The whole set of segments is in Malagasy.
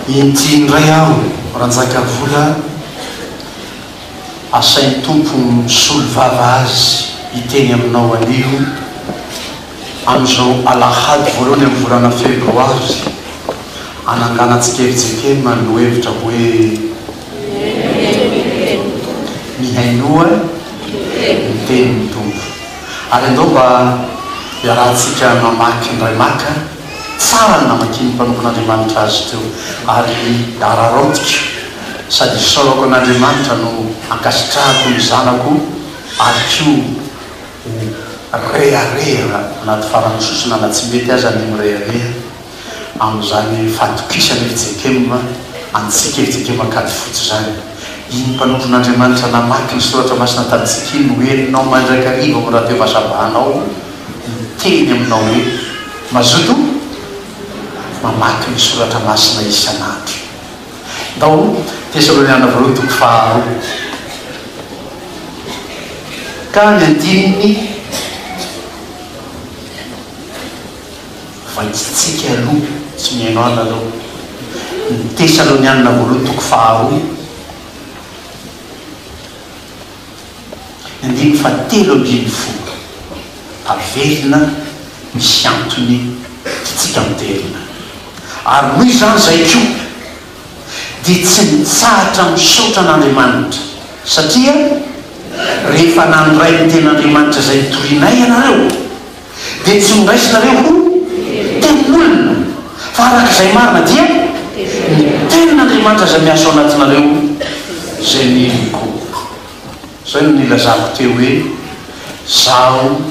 Inty indray aho Ranjakavola asain'ny Tompo misolo vava azy hiteny aminao anio amin'izao alahady voalohany amin'ny volana febroary ananganantsika ery Jekema no hevitra hoe Mihainoa ny tenin'ny Tompo. Ary andao mba iarahantsika mamaky ny iray maka tsara ny namakian'ny mpanompon'Andriamanitra azy teo, ary araraotiko sady isaorako an'Andriamanitra no ankasitrahako ny zanako ary koa ho rehareha na ady fara-misosona na tsy mety aza ny mirehareha. amin'izany fahatokisan'i Ejekiema antsika, Ejekiema kajy fotsy izany. Iny mpanompon'Andriamanitra namaky ny Soratra Masina tamintsika iny no henonao mandrakariva ao amin'ny radio vazabahanao ao, miteny aminao hoe, Mazoto mamaky ny Soratra Masina isan'andro. Ndao Tesaloniana Voalohany toko faharoa ka ny andininy. Vaintsitsika aloha, tsy mihaino ahy nareo. Ny Tesalonianina Voalohany toko faharoa, andininy fahatelo ambin'ny folo. Averina misy antony tiantsika miverina. Ary noho izany izay koa dia tsy nitsahatra misaotra an'Andriamanitra, satria rehefa nandray ny Tenin'Andriamanitra izay nitorianay ianareo, dia tsy noraisinareo ho tempolina, fa araka izay marina dia ny Tenin'Andriamanitra izay miasa ao anatinareo izay niriko koa. Izay no nilazako teo hoe, Izaho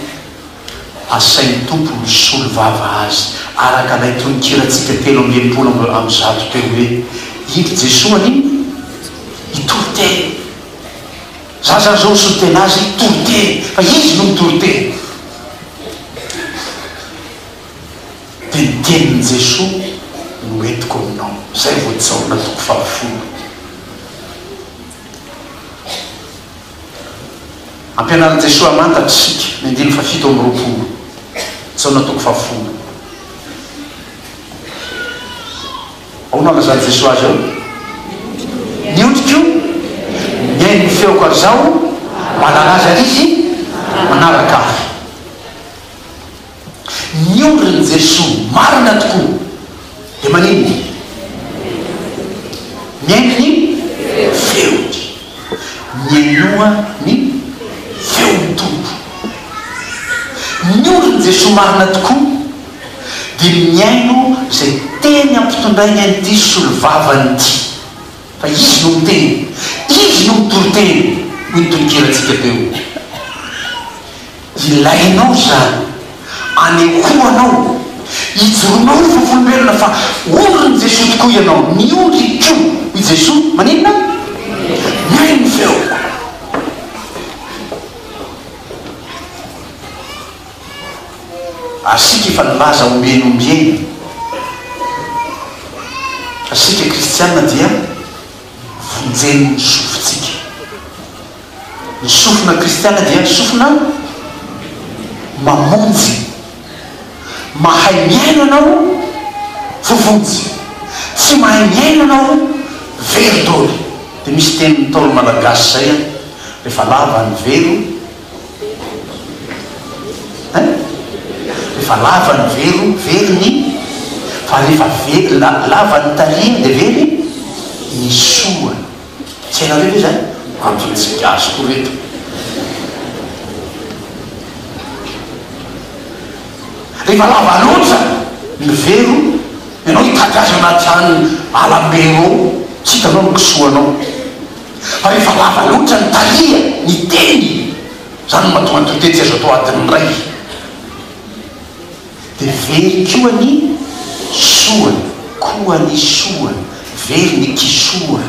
asain'ny Tompo misolo vava azy, araka ilay tononkirantsika telo amby enimpolo amby amby zato teo hoe, Indry Jesoa anio, hitory teny. Za zany zao misotena azy toriteny fa izy no mitoriteny. Dia ny tenin'i Jesoa no entiko aminao. Zay vao Jaona toko fahafolo. Ampianarin'i Jesoa hamantatra isika ny andininy fahafito amby roapolo, Jaona toko fahafolo. Ahoana no nalazain'i Jesoa azy eo? Ny hoditro mihaino ny feoko ary Izaho mahalala azy ary izy manaraka Ahy. Ny ondrin'i Jesoa marina tokoa dia maninona? Mihaino ny feony. Mihainoa ny feon'ny Tompo. Ny ondrin'i Jesoa marina tokoa. dia mihaino izay teny ampitondrainy an'ity solovavany ity, fa izy no miteny, izy no mitoriteny, hoy ny tononkirantsika teo. Ilainao izany, anehoanao, ijoroanao ho vavolombelona fa ondrin'i Jesoa tokoa ianao, ny ondriko, hoy Jesoa, maninona? Mihaino ny feoko. Ary isika efa nilaza ombieny ombieny fa isika kristiana dia vonjen'ny sofintsika. Ny sofina kristiana dia ny sofina mamonjy. Mahay miaina anao vovonjy, tsy mahay miaina anao very doly. Dia misy teny ntaolo malagasy izay an, rehefa lava ny vero. Rehefa lava ny velo, very ny, fa rehefa very, lava ny tarihiny dia very ny sorony. Tsy hainareo ve izany? Antony tsy gasy koa ireto. Rehefa lava loatra ny velo, ianao hitady azy anaty ala am-be eo, tsy hitanao ny kisoanao. Fa rehefa lava loatra ny tareha, ny teny, izany no mahatonga ny traité tsy azo atao adiny iray. Dia very koa ny soa, koa ny soa, very ny kisoa.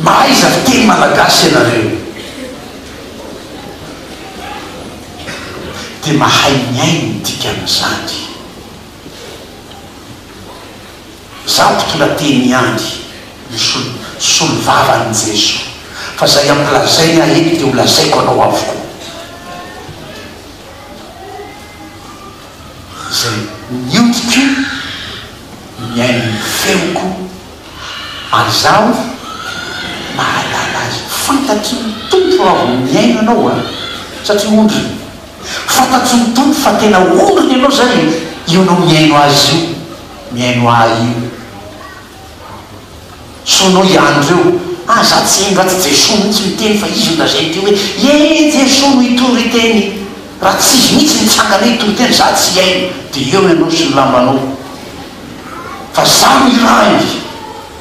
Mahaiza fiteny malagasy ianareo, dia mahay mihaino ny dikan'izany. Za mpitondra teny ihany no solovavan'i Jeso fa zay ampilazainy ahy eto de ho lazaiko anao avokoa zay niodiko nihaino ny feoko ary zaho mahalala azy fantatry ny Tompo raha vao mihaino anao a satria ondriny fantatry ny Tompo fa tena ondriny ianao zay io anao mihaino azy io. mihaino ahy io. Sono ihany reo. Aza tsy indro atsy Jesoa mihitsy miteny fa izy no lazainy teo hoe ee Jesoa no hitory hiteny. Raha tsy izy mihitsy mitsangana hoe hitory teny za tsy hihaino de eo ianao sy ny lambanao. Fa za no irahiny.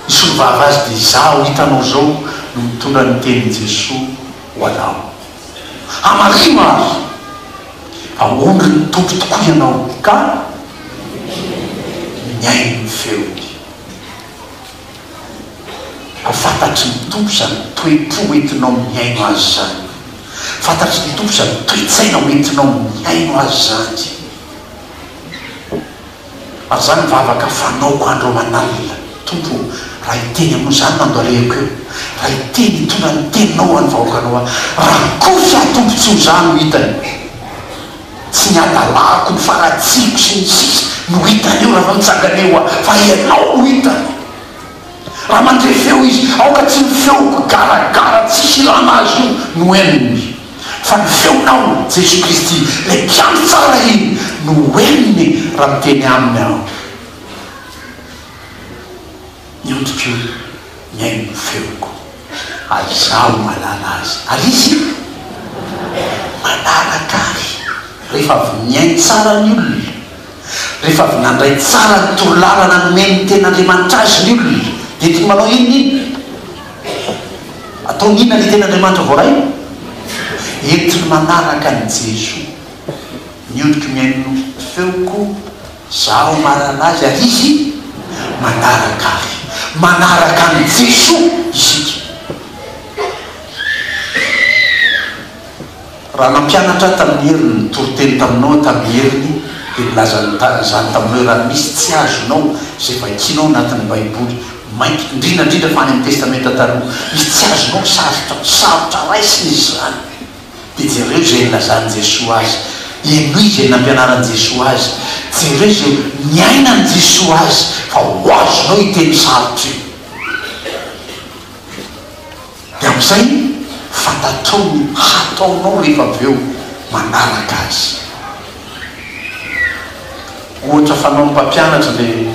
Hisolovava azy de izaho hitanao zao no mitondra ny tenin'i Jesoa ho anao. Hamarino ary, hamonjy ny Tompo tokoa ianao ka mihaino ny feony. Ho fantatry ny Tompo izany toe-po hoentinao mihaino Azy izany. Ho fantatry ny Tompo izany toe-tsaina hoentinao mihaino Azy izany. Ary izany ny vavaka fanaoko andro aman'alina, Tompo ô, raha hiteny aminao izany ny andohalehako eo, raha hiteny hitondra ny teninao ho an'ny vahoakanao aho, raha kosa aho Tompo tsy ho za no hitany, tsy ny hadalako, ny faratsiako sy ny sisa no hitany eo raha vao nitsangana eo aho, fa Ianao no hitany. Raha mandre feo izy, aoka tsy ny feoko garagara tsisy ilana azy io no henony, fa ny feonao, Jesoa Kristy, ilay mpiandry tsara iny no henony raha miteny aminy aho. Ny hodi-ko mihaino ny feoko, ary izaho mahalala azy, ary izy manaraka ahy. Rehefa avy nihaino tsara ny olona, Rehefa avy nandray tsara ny torolalana nomen'ny Tenin'Andriamanitra azy ny olona, dia tokony manao inona inona? Ataony inona ny Tenin'Andriamanitra voarainy? Entiny manaraka an'i Jesoa. Miondriky mihaino ny feoko zaho marary azy ary izy manaraka ahy. Manaraka an'i Jesoa isika. Raha nampianatra ahy tamin'ny heriny, nitory teny taminao aho tamin'ny heriny, dia nilaza izany taminao i Raha misy tsy azonao izay vakianao anatin'ny Baiboly, mainka, indrindra indrindra fa any amin'ny Testamenta Taloha, misy tsy azonao sarotra, sarotra raisina izy izany, dia jereo izay nilazan'i Jesoa azy, henoy izay nampianaran'i Jesoa azy, jereo izay niainan'i Jesoa azy, fa ho azonao io teny sarotra io. Dia amin'izay fantatrao ny hataonao rehefa avy eo manaraka azy. Ohatra fanaon'ny mpampianatra ilay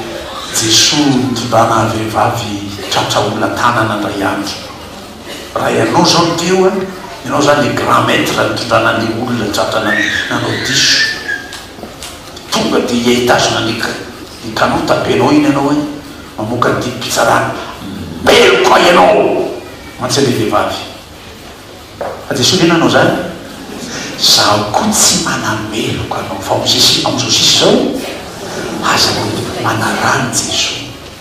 Jesoa nitondrana vehivavy tratra olantanana indray andro. Raha ianao izao no teo an, ianao izany ilay grand maitre nitondrana an'ilay olona tratra nanao diso. Tonga dia hitazona ny kanota benao iny ianao hoe. Mamoaka ny didim-pitsarana meloka ianao mantsy anie vehivavy fa dia solena anao zany zaho koa tsy manameloka anao fa mozay sy amzao sisa izao aza mameloka manarany jeso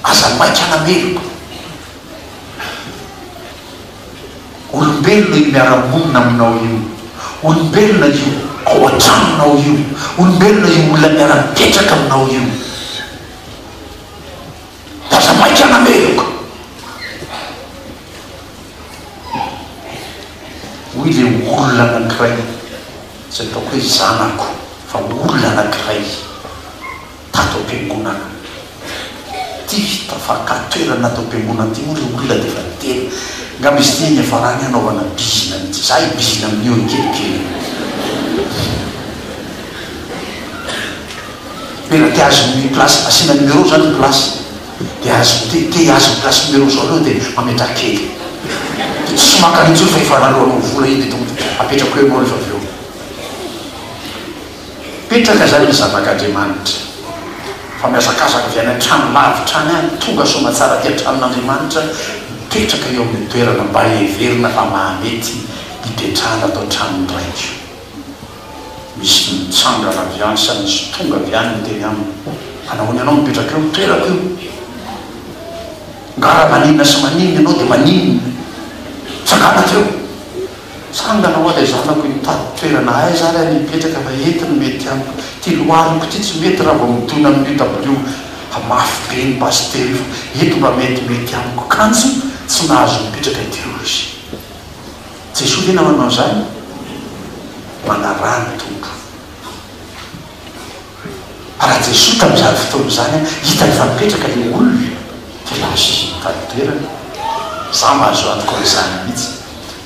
aza maika anameloka olombelona io miaramonina aminao io olombelona io ao an-tranonao io olombelona io olona miara-mipetraka aminao io Aza maika nameloka, hoy ilay olona anankiray, tsy ataoko hoe zanako fa olona anankiray tato am-piangonana ity, tafakà toerana ato am-piangonana ity, moa ilay olona dia efa niteny, angamba izy ity niafarany hanaovana bizina amin'ity, izaho hibizina amin'io ankehitriny. Tena te azy ny place asiana numéro zany ny place de azy te te azy ny place numéro zao reo de mametraha kely de tsy makany intsony fa efa raloako ny vola iny de tonga de apetrako eo ianao refa avy eo mipetraka zany ny zanaka Andriamanitra fa mihazakazaka avy any antrano lavitra any any tonga soamatsara aty antranon Andriamanitra mipetraka eo aminy toerana mba heverina fa mahamety hipetrahana ato antranon ny Raiko. Misy mitsangana avy any sa misy tonga avy any miteny aminy, Manahoana ianao mipetraka eo amin'ny toerako io? Ngara maninona sy maninona ianao dia maninona? Tsangana avy eo! Tsangana hoa ilay zanako hoe mitady toerana aiza ary any hipetraka fa eto no mety amiko. Ity lohaliko ity tsy mety raha vao midona amin'ny UW fa mafy be ny basy telo io fa eto mba metimety amiko. Kanjo tsy nahazo nipetraka teo izy. Jesoa ve nanao an'izany? Manaraha ny Tompo. Fa raha Jesoa tamin'izany fotoana izany hitany fa mipetraka ilay olona dia lasa izy nitady toerana. Izaho mba azo antoka hoe izany mihitsy.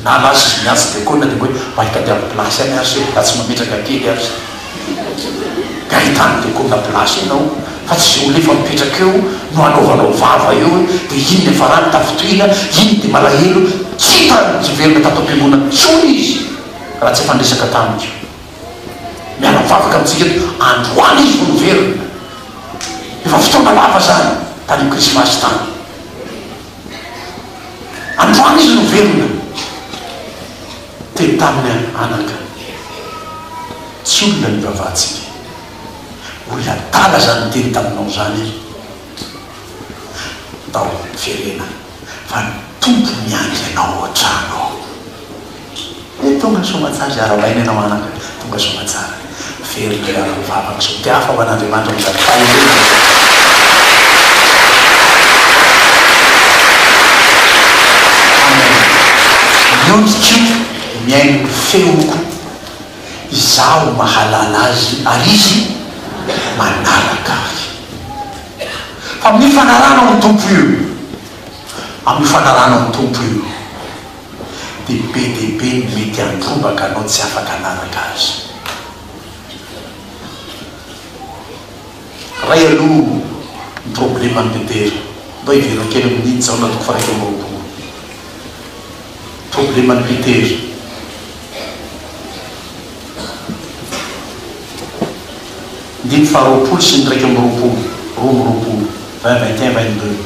Na lasa izy miantso diakona dia mba hoe mba hitadiavy place any ary se, raha tsy mametraka kely ary se. Tena tsy mila hoe Gaetano de Kona place ianao fa tsy izay olona efa mipetraka eo no hanaovanao vava eo hoe de iny niafarany tafintohina iny de malahelo tsy hita ny hiverina tato ampiangonana intsony izy raha tsy efa niresaka tamiko miala mivavaka amintsika eto androany izy vao niverina efa fotoana lava zany tany am krismasy tany androany izy niverina Te taminy any anaka ny hery. Tsy olona ny vavantsika. Olona adala zany niteny taminao zany e. Ndao miverena fa ny Tompo miandry anao an-trano ao. He tonga soamatsara iarabaina ianao anaka, tonga soamatsara. Very indray ary ny vavako. Dia hafa ho an'Andriamanitra ny vavako. Aleloia. Miodiko, mihaino ny feoko. Izaho mahalala Azy ary Izy manaraka Ahy. Fa amin'io fanarahanao ny Tompo io, amin'io fanarahanao ny Tompo io. dia be dia be ny mety handrombaka anao tsy afaka hanaraka azy. Ray aloha ny probleman'i Petera. Ndao hiverina kely amin'i Jaona toko faha iraika amby roapolo. Probleman'i Petera. Andininy faha roapolo sy ny iraika amby roapolo, roa amby roapolo, vingt, vingt et un, vingt deux.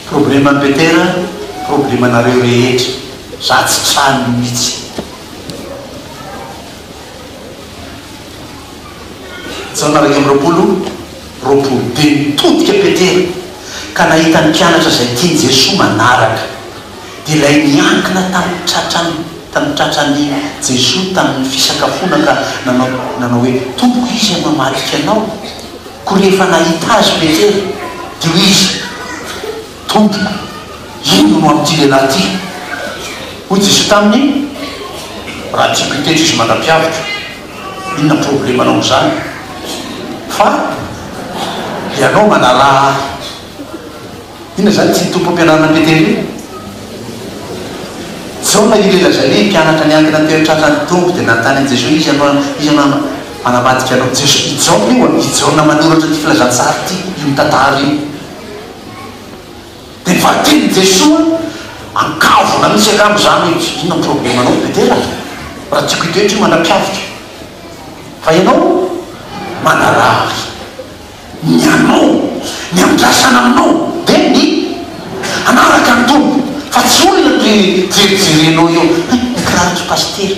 Probleman'i Petera problemanareo rehetra za tsy trany mitsy. Jaona iraika amby roapolo roapolo dia nitodika Petera ka nahita ny mpianatra izay tian'i Jesoa manaraka dia ilay niankina tamin'ny tratrany tamin'ny tratran'i Jesoa tamin'ny fisakafoana ka nanao nanao hoe tompoko iza no hamadika anao? Koa rehefa nahita azy Petera, dia hoy izy, Tompoko, inona no amin'ity lehilahy ity? Hoy Jesoa taminy, Raha tsy mpitetry izy mandra-piavotro, inona problemanao amin'izany? Fa ianao manaraha Ahy. Inona izany tsy tompom-pianarana Betele? Foana io ilay lazainy hoe mpianatra niankina teo an-tratra ny Tompo dia nanontany an'i Jesoa hoe iza no iza no hanamadika anao? Jesoa, i Jaona io an, i Jaona manoratra ity filazantsara ity, io mitantara io. Dia ny valin-tenin'i Jesoa ankavona mihitsy angamba izany hoe inona ny problemanao Betele a! Raha tiako hitoetra io mandra-piaviko fa ianao manaraha ahy. Ny anao, ny andrasana aminao dia ny hanaraka ny Tompo fa tsy olona toy ny jerijerenao eo hoe ny kiraron'i Pasitera,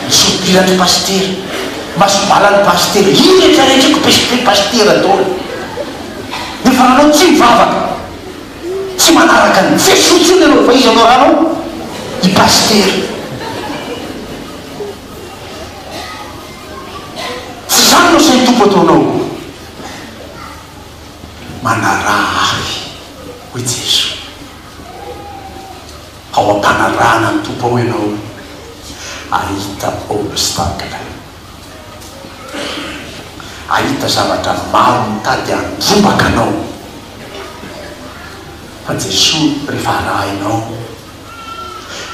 ny sopiran'i Pasitera, ny masobalan'i Pasitera, io rehetra rehetra io kipesipe Pasitera daholo. Nefa raha anao tsy mivavaka, tsy manaraka an'i Jesoa intsony ianao fa iza no arahanao? I Pasitera. Tsy izany no asan'ny Tompo ataonao? Manaraha Ahy, hoy Jesoa. Ao am-panarahana ny Tompo ao ianao no hahita obstacle, hahita zavatra maro mitady handrombaka anao, fa Jesoa rehefa arahinao,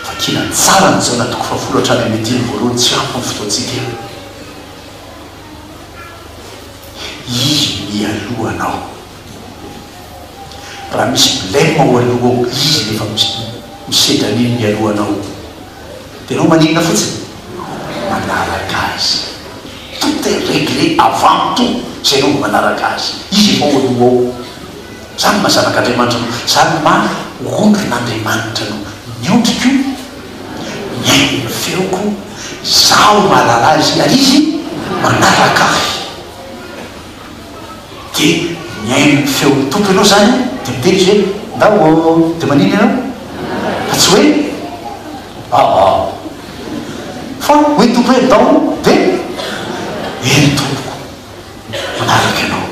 Vakina tsara ny Jaona toko fahafolo hatrany amin'ny andininy voalohany tsy ampy ny fotoantsika eto. Izy mialoha anao. Raha misy blem ao aloha ao, Izy no efa misedra an'iny mialoha anao. Dia ianao maninona fotsiny? Manaraka Azy. Tout est regle avant tout, izay ianao vao manaraka Azy. Izy efa ao aloha ao. Zany no maha zanak' Andriamanitra no zany no maha ondrin' Andriamanitra no ny ondriko mihaino ny feoko izaho mahalala azy ary izy manaraka ahy dia mihaino ny feon' ny Tompo ianao zany dia miteny izy hoe ndao ô dia manina ianao fa tsy hoe aò fa hoy ny Tompo hoe ndao dia eny tompoko manaraka ianao.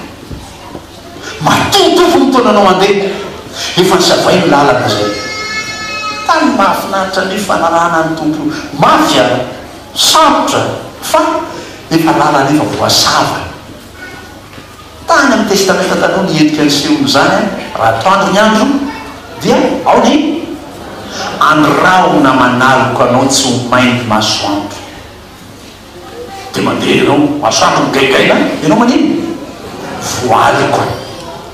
Matovitovy ny taonanao handeha, efa nozavainy ny lalana izay. Tany mahafinaritra ny fanarahana ny Tompo mafy ary sarotra fa efa lalana efa voasava. Tany amin'ny Testamenta Taloha ny endrika nisehon'izany, raha atoandro ny andro dia ao ny andro rahona manaloka anao tsy ho main'ny masoandro. Dia mandeha ianao, masoandro migaingaina, ianao manino? Voaliko.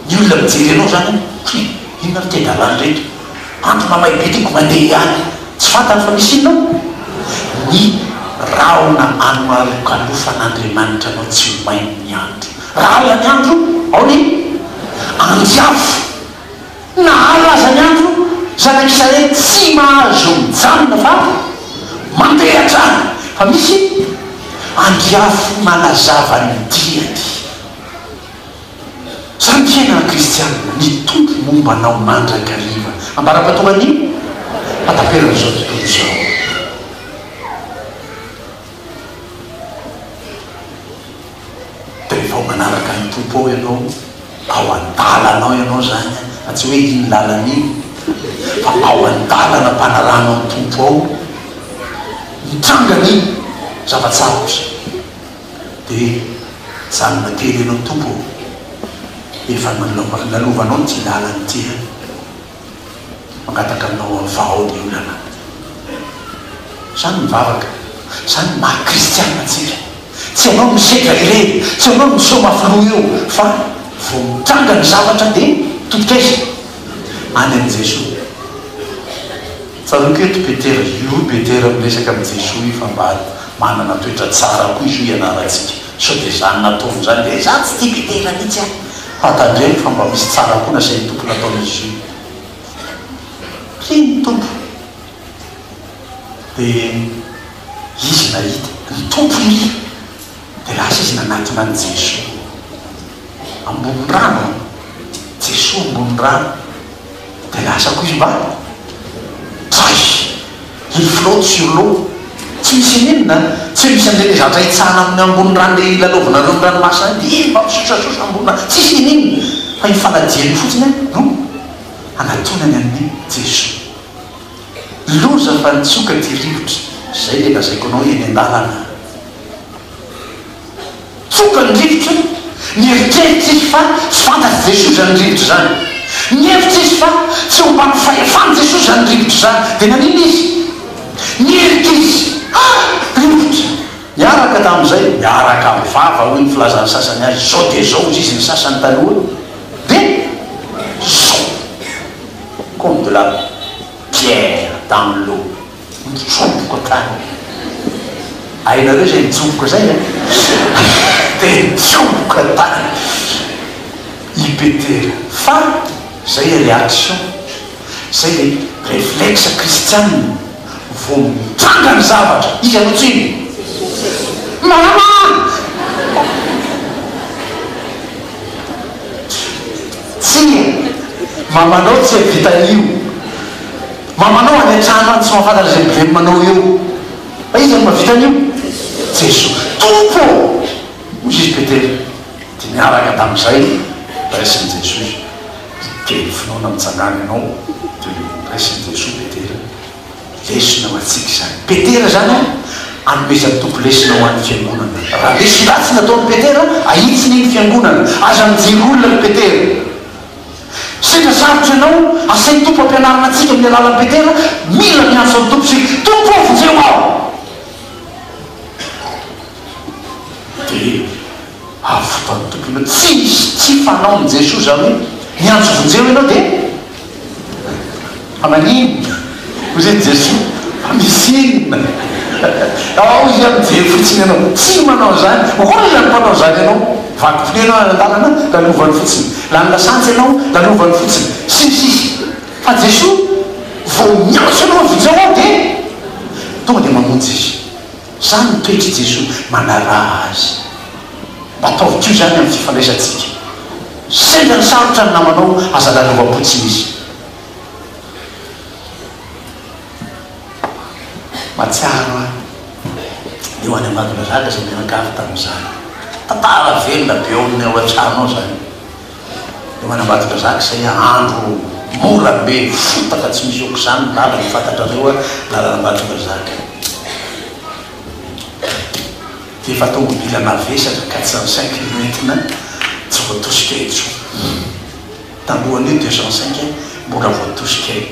Ny olona mijery anao izany an, hoe inona ry ten-dalàna ireto? Andro mamay be tiako mandeha ihany. Tsy fantany fa misy inona ao? Ny rahona anolokalofan'Andriamanitra anao tsy ho main'ny andro. Raha alina ny andro, ao ny anjy avo. Nahazo aza ny andro, Zanak' Israely tsy mahazo mijanona fa mandeha hatrany, fa misy andiafy manazava ny diany. Izany fiainana kristianina mitombo momba anao mandrakariva. Ambara-pahatonga ny hataperan'izao tontolo izao. Dia rehefa manaraka ny Tompo ao ianao, ao an-dalana ao ianao izany an, fa tsy hoe iny lalana iny, fa ao an-dalana am-panarahanao ny Tompo ao, mitranga ny zava-tsarotra, dia mijanona kely ianao Tompo ô, efa nalovanao ity lalana ity an. mangataka aminao avao ny olana. Zah no mivavaka, zah no maha kristiana antsika. Tsy ianao no sedra ireny, tsy ianao no miseho mafy loha eo, fa vao mitranga ny zavatra dia totok'aiza? Any amin'i Jesoa. Tsaroako eto Petera, io Petera miresaka amin'i Jesoa io fa mba manana toetra tsara koa izy io hianarantsika. Sao dia izany nataovy izany ve? Izaho tsy tia kitihina mihitsy an! Fa tandremo fa mba misy tsara koa nasain'ny Tompo natao Jésus. Tsia ny Tompo dia Izy nahita ny Tompo iry dia lasa Izy nanatona an'i Jésus ambony rano an! Jésus ambony rano. Dia lasa koa izy mba Hay! I Flot sur l'eau tsy misy ininona an! Tsy misy an'ireny zatra itsahana amin'ny ambony rano dia ilalaovanareo ny ranomasina any dia iny mba misosasosa ambony rano tsisy ininona fa io fanadia io fotsiny an no anatonany an'i Jesoa. Loza fa nitsoka ty rivotra, izay ilay lazaiko anao eny an-dalana. Tokony rivotra ny eritreritr'izy fa tsy fantatr'i Jesoa izany rivotra izany. Nihevitra izy fa tsy ho mpanao fahefan'i Jesoa izany rivotra izany. Dia naninona izy? Nirika izy. Ah! Rivotra! Niaraka tamin'izay, miaraka amin'ny vava, hoy ny filazan'ny sasany azy, izao dia izao, hoy izy ny sasany taloha, dia zao! Comme de la pierre dans l'eau. Mitsoboka ka. Hainareo izay mitsoboka izay an? Dia hitsoboka tany i Petera. Fa izay ilay réaction, izay ilay réflexe kristiana vao mitranga ny zavatra. Iza no tsiny? Maramara! Tsia, mamanao tsia vitan'io. Mamanao any antrano any tsy mahafantatra izay bileminanao eo fa iza no mavita an'io? Jesoa Tompo ô! Hoy izy Petera dia niaraka tamin'izay raisin'i Jesoa izy dia ny finoana mitsangana ianao dia noraisin'i Jesoa Petera lesona ho antsika izany Petera izany a! anomezan'ny Tompo lesona ho an'ny fiangonana raha resy ratsy nataon'i Petera ahitsiny iny fiangonana aza mijery olona ry Petera Sendra sarotra ianao, asain'ny Tompo ampianarina antsika amin'ny alalan'i Petera, mila miantso an'ny Tompo isika, Tompo ô, vonjeo aho! Dia avy fotoan'ny Tompo ianao. Tsy misy tsy fanaon'i Jesoa izany hoe miantso vonjeo ianao dia. Fa maninona? Hozy an'i Jesoa, Fa misy inona? Ao Izy hoe, Mijery fotsiny ianao. Tsy manao izany. Hoy Izy, Ny mpanao izany ianao, vakompinono ianao any an-tanana, lalovany fotsiny. Lany lasantsy ianao, lalovany fotsiny. Sy ny sisa Fa Jesoa, vao miantso ianao avy izao aho dia tonga dia mamonjy izy. Izany ny toetr'i Jesoa. Manaraha Azy. Mba ataovy koa izany amin'ny fifandraisantsika. Sendra ny sarotra ny namanao, aza lalovam-potsiny izy. Mahatsiaro ahy eo any Ambatondrazaka izay nianakavy tamin'izany. Tantara velona be ao amin'ny ao an-trano ao izany. Eo any Ambatondrazaka izay andro mora be, fotaka tsy misy aok'izany ny lalana, fantatrareo a, lalan'Ambatondrazaka. Dia efa tômôbila mavesatra, quatre cent cinq no entina, tsy voatosika intsony. Talohan'io dia zao saika mbola voatosika eo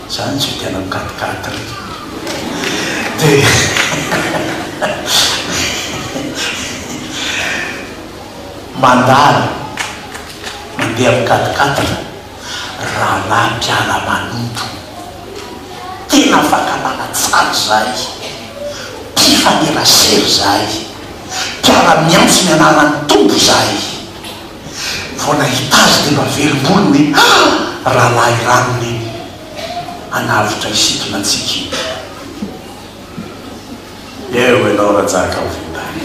zany tsy ho tena mikatikaty ry dia mandalo mandeha mikatikaty ry rahalahy mpiala manompo tena afaka manajary izahay mpifanerasera izahay mpiara-miantso ny anaran'ny Tompo izahay. vao nahita azy dia naverim-bolo ny rahalahy rariny iny hanavotra isika natsika iny. Eo ianao rajaka ho vita any.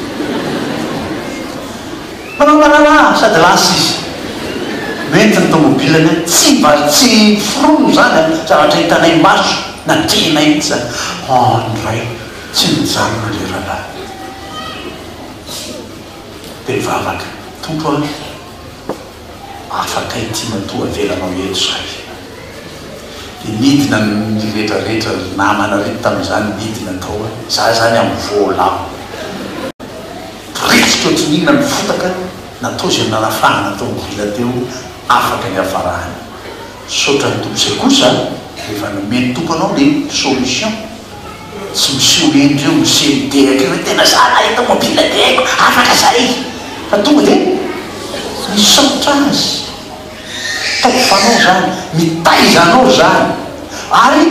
Mpanao mararà sady lasa izy. Mety ny tomobilany an, tsy mba tsy foronina izany an, zavatra hitanay maso, natrehinay mihitsy izany. An, ray tsy nijanona ilay rahalahy. be vavaka, Tompo a! afaka ity matoa avelanao eto zay. Dia nidina ny retraretra, ry namana ry tamin'izany nidina tao a! za zany amin'ny voalavo, poritsika ohatry ny inona ny fotaka natao izay nanafahana tao amin'ny villa teo, afaka hiafarany. Misaotra ny Tompo izay kosa rehefa nomeny Tompo anao le solution. Tsy miseho eny reo miseho midehaka eo tena za nahita mobile de haiko afaka zay fa tonga de misaotra azy ataoko fa anao zany mitaiza anao zany ary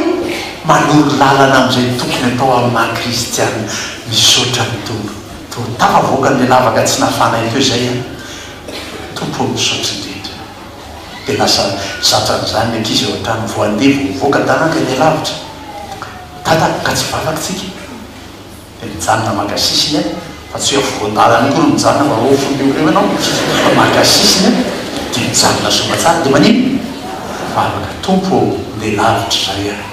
manoro lalana amizay tokony atao am maha kristiana misaotra ny tompo to tafavoaka ny lavaka tsy nafanay teo zay an tompo ô misaotra indrindra. Dia lasa zatra an'izany ny ankizy eo an-trano. Vao handeha vao mivoaka dahaka ny alavitra. Dada ka tsy valaky tsika. Dia mijanona maka sisiny aho, fa tsy hoe afovoan-dalana akory mijanona mba ho aofony eo ho eo ianao, fa maka sisiny aho, dia mijanona soa tsara, dia manino? Vavaka, Tompo ô, ndeha lavitra izay aho.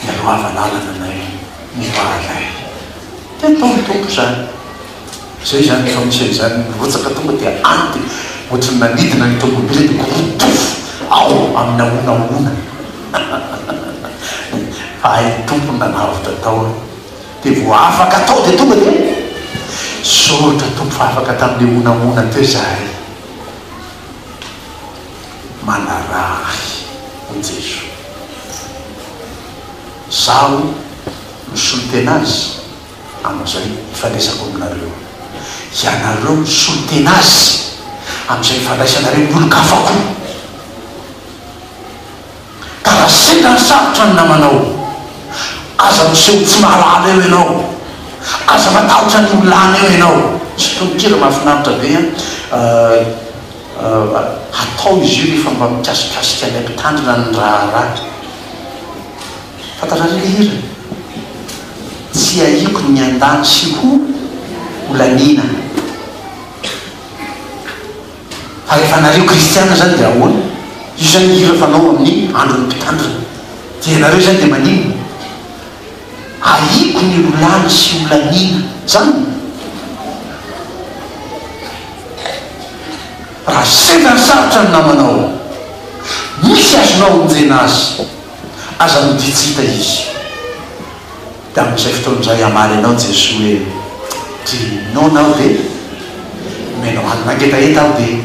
Mialoha hava lalana anay, miova anay. Dia atao ny Tompo izany. Izay izany rehefa misy an'izany mirotsaka tonga dia any dia ohatran'ny nanidina ny tomobila dia korotofo ao amin'ny ahonahoana fa hay ny Tompo no nanavotra tao an! dia vao afaka tao dia tonga dia Soritra Tompo fa afaka tamin'ilay honahona teo izahay! manaraha ahy hoy Jeso! izaho no solonten'azy! Amin'izay ifandraisako aminareo. Ianareo misolo tena Azy amin'izay ifandraisanareo amin'ny olon-kafa koa. Tara sendra ny sarotra ny namanao. Aza miseho tsy mahalala eo ianao. Aza matahotra ny ho lany eo ianao. Misy tononkira mahafinaritra be an! Hatao izy io rehefa mba mikasikasika anay mpitandrina ny raharaha. Fantatrareo ilay hira? Tsy ahiako ny miandany sy ho holaniana. Fa rehefa anareo kristiana izany dia ahoana? Io izany hira fanao amin'ny andron'ny mpitandrina. Dia ianareo izany dia maninona? Ahiako ny holany sy holaniana. Izany? Raha sendra sarotra ny namanao, misy azonao onjena azy. Aza miditsita izy. Dia amin'izay fotoana izay hamaly anao Jesoa hoe, Ry noana aho dia nomenao hanina ngetaheta aho dia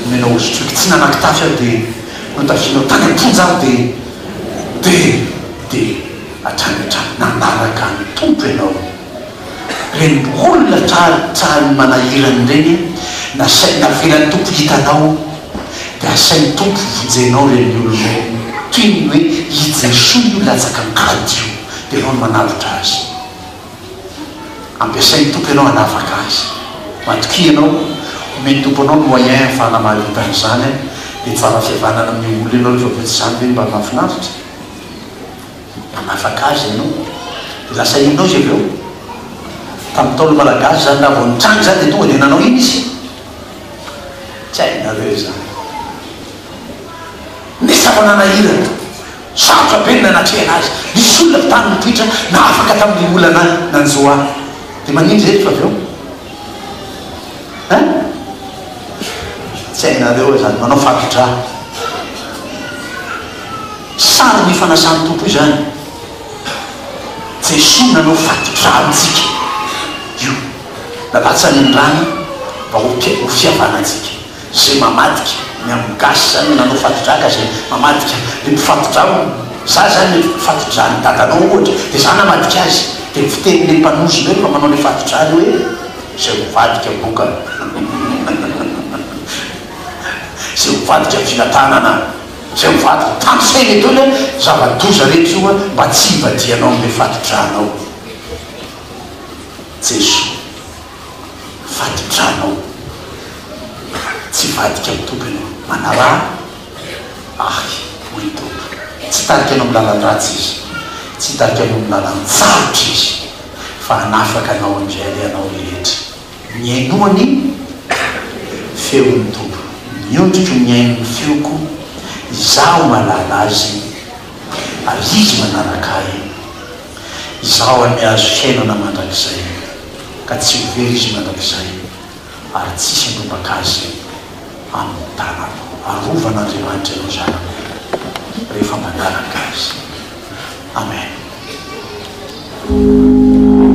nomenao hosotroiko tsy nanan-kitafy aho dia notafianao tany am-ponja aho dia, dia, dia, hatrany hatrany nanaraka ny Tompo ianao. Ireny olona tratrany manahirana ireny an, nasain navelan'ny Tompo hitanao dia asain'ny Tompo vonjenao ireny olona ireny toy ny hoe i Jesoa io latsaka an-kady io dia ianao no manavotra azy. Ampiasain'ny Tompo ianao hanavaka azy. Matokia ianao, omen'ny Tompo anao ny moyen ahafahana mahavita an'izany an, dia tsara fihavanana amin'ny olona ianao rehefa avy eo tsy izany ve no mba mahafinaritra? Mpanafaka azy ianao. Lasa inona izy avy eo? Tamin'ny Ntaolo Malagasy izany, raha vao nitranga izany dia tonga dia nanao inona izy? Tsy hainareo izany. Nefa efa nanahirana. Sarotra be ny nanatrehana azy. Nisy olona avy tany Mompitra nahafaka tamin'ny olana nanjo ahy. Dia maninona izy eto avy eo? Hein? Tsy hainareo izany. Manao fato-drà. Sary ny fanasan'ny Tompo izany. Jesoa nanao fatin-drano antsika. Io. Nalatsany ny rany mba ho ho fiavana antsika. Izay mamadika ny amin'ny gasy izany nanao fatin-drano ka izay mamadika ny mpifatin-drano. Za zany le fatin-dranon'i dadanao ohatra dia za namadika azy. Dia ny fitenin'ilay mpanozy indray mba manao ilay fatin-drano hoe izay mivadika boka izay mivadika fiadanana. Izay mivadika, tandrify le dôly a, zava-doza rehetra io a, mba tsy hivadihanao an'ilay fati-dranao. Jesoa, fati-dranao, tsy hivadika amin'ny Tompo ianao, manaraha ahy, hoy ny Tompo. Tsy hitarika anao amin'ny lalan-dratsy Izy, tsy hitarika anao amin'ny lalan-tsarotra Izy, fa hanafaka anao amin'izay alehanao rehetra. Mihainoa ny feon'ny Tompo. Miondriko mihaino ny feoko, izaho mahalala Azy, ary Izy manaraka ahy. Izaho ary mihazo fiainana mandrakizay, ka tsy ho very Izy mandrakizay, ary tsisy handrombaka Azy amin'ny tanako. Arovan'Andriamanitra ireo zanany rehefa manaraka Azy. Amen.